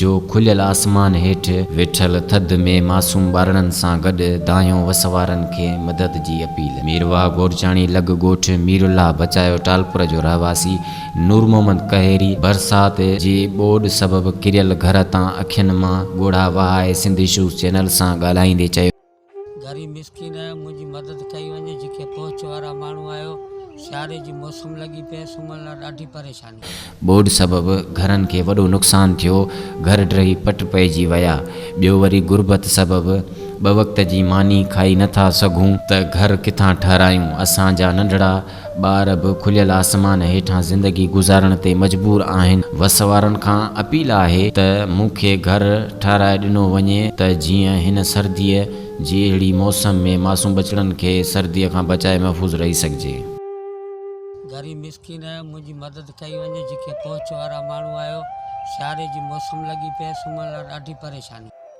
جو کليل آسمان هيٺ ويٺل ٿڌ ۾ معصوم ٻارڙن سان گڏ دانهيو وس وارن کي مدد جي اپيل. مير واهه گورچاڻي لڳ ڳوٺ مير الله بچايو ٽالپور جو رهواسي نور محمد ڪهيري برسات جي ٻوڏ سبب ڪريل گهر تان اکين مان ڳوڙها وهائي سنڌ اشوز چينل سان ڳالهائيندي چيو غريب مسڪين آهيان منهنجي مدد ڪئي وڃي جيڪي پهچ وارا ماڻهو آهيو سياري جي موسم لڳي پئي سمهڻ لاء ڏاڍي پريشاني. ٻوڏ سبب گهرن کي وڏو نقصان ٿيو گهر ڊهي پٽ پئجي ويا ٻيو وري غربت سبب ٻه وقت جي ماني کائي نٿا سگهون ته گهر ڪٿان ٺهرايون اسان جا ننڍڙا ٻار به کليل آسمان هيٺان زندگي گذارڻ تي مجبور آهن. وس وارن کان اپيل آهي ته مون کي گهر ٺهرائي ڏنو وڃي ته جيئن هن سرديء جي اهڙي موسم ۾ معصوم ٻچڙن کي سرديء کان بچائي محفوظ رهي سگهجي. غريب مسڪين منهنجي مدد ڪئي وڃي جيڪي پهچ وارا ماڻهو آهيو. سياري جي موسم لڳي پئي سمهڻ لاء ڏاڍي پريشاني.